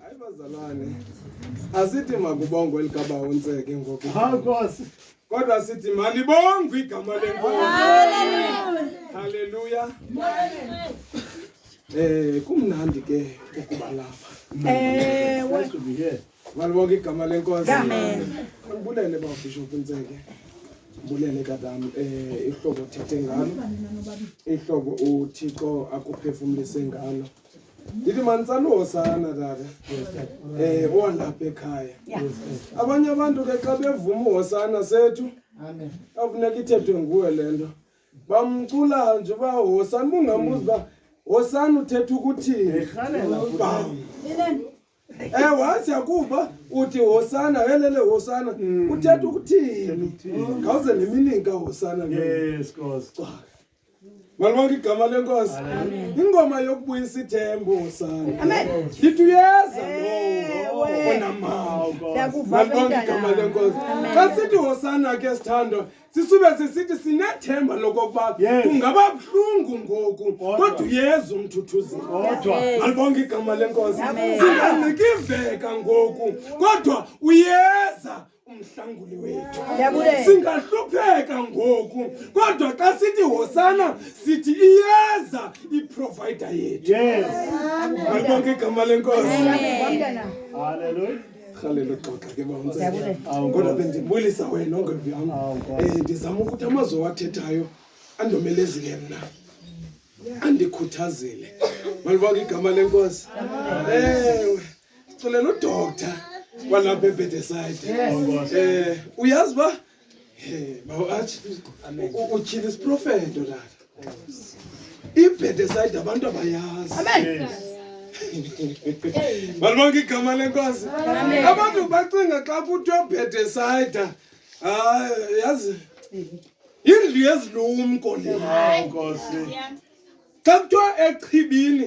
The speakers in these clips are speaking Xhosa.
Hayi bazalwane. Asithi makubongwe likabawontseke ngoku. Nkosi. Kodwa sithi malibongwe igama lenkosi. Haleluya. Eh kumnandi ke ukuba lapha. Ewe. Malibonke igama lenkosi. Ngibulele bafishop Ntseke. Ngibulele kadam eh ihlobo thethe ngalo. Ihlobo uThixo akuphefumlise ngalo. ndithi manitsaluho sana tata um eh, owalapha ekhaya abanye abantu ke xa bevuma uhosana sethu afuneka ithethwe nguwe le nto bamcula nje uba hosana ubungambuzi uba hosana uthetha ukuthini ewe hazi akuba uthi hosana helele hosana hmm. uthetha ukuthini ngawuze nemilinka hosana yes, Malibonke igama lenkosi. Ingoma yokubuyisa ithembo sana. Amen. Ndithi uyeza lowo onamandla. Siyakuva Malibonke bantwana. igama lenkosi. Amen. Xa sithi hosana ke sithandwa, sisube sisithi sinethemba lokokuba Yes. kungaba buhlungu ngoku Kodwa. kodwa uyeza umthuthuzeli. Kodwa. Yes. Malibonke igama lenkosi. Amen. Singancikiveka ngoku kodwa uyeza umhlanguli wethu singahlupheka ngoku kodwa xa sithi hosana sithi iyeza iprovider yethu malibonke igama lenkosi rhalela uxoxa ke baunsekodwa bendibulisa wena ongevi yam um eh, ndizama ukuthi amazwi owathethayo andomelezile mna andikhuthazile malibonke igama lenkosi ewe sicele nodokta kwalapha ebhedesayide um uyazi uba bawo athi utyhile isiprofeto tata ibhedesayide abantu abayazi balibonke igama lenkosi abantu bacinga xa kuthiwa bhedesayida hayi yazi yindlu yezilumko le xa kuthiwa echibini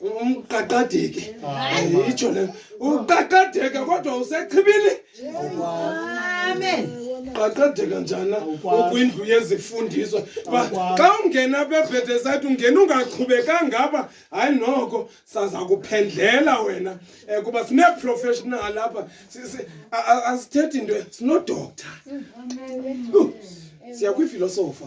umqaqadeki ayitsho le uqaqadeke kodwa usechibile amen qaqadeka njana ukwindlu yezifundiso xa ungena apha ebhedesayithi ungena ungaqhubekanga apha hayi noko saza kuphendlela wena um kuba sineeprofessional apha asithethi into sinodoktar siya kwifilosofa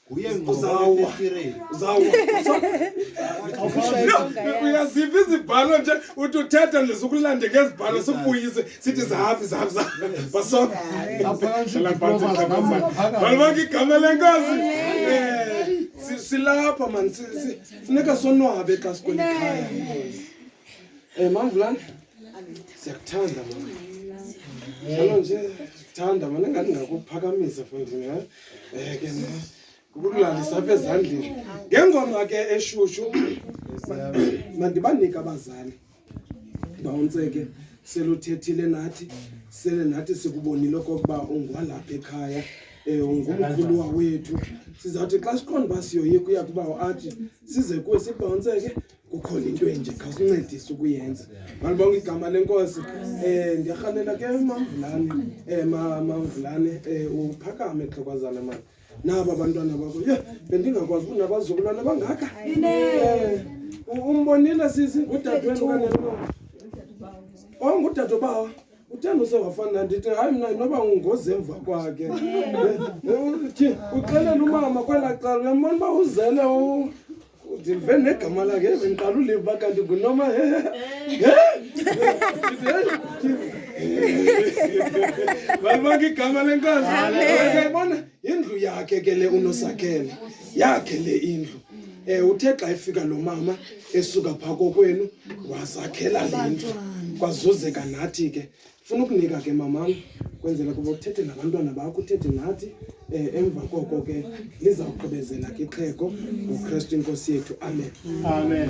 uyaziphi izibhalo nje uthi uthetha nje sukulande ngezibhalo sikubuyise sithi zahafi zahafi zahafibasobalibonke igama lenkosi silapha mani funeka sonwabe xa sikwelikhaya um mamvulane siyakuthanda mani njalo nje sithanda mani engathi ngakuphakamisa fondini Eh, ke ne, kukulalisa apha ezandleni ngengoma ke eshushu mandibanike abazali bawuntseke seluthethile nathi sele nathi sikubonile okokuba ungwalapha ekhaya um ungumkhulu wawethu sizawuthi xa siqonda uba siyoyika uya kuba athi size kuwe sibhawuntseke kukhona into enje khawusincedise ukuyenza malibonga igama lenkosi um ndiyarhalela ke mamvulane um eh, mamvulane um eh, uphakame xhokwazana mani naba abantwana bakho ye bendingakwazi uba nabazukulwana bangaka um umbonile sisi ngudadewenu okanye lo ongudadobawa uthanda usewafana nandithi hayi mna noba ungozi emva kwakhe uxelela umama kwelaa cala uyambona uba uzele ndilive negama lakhe bendiqala uliva kanti ngunoma balibanga igama lenkazi kayibona yindlu yakhe ke le unosakhele yakhe le indlu um uthe xa efika lo mama esuka phaa kokwenu wazakhela le ndlu kwazuzeka nathi ke funa ukunika ke mamam kwenzela kuba uthethe nabantwana bakho uthethe nathi um emva koko ke lizawugqibezela ke ixhego ngokristu inkosi yethu amen amen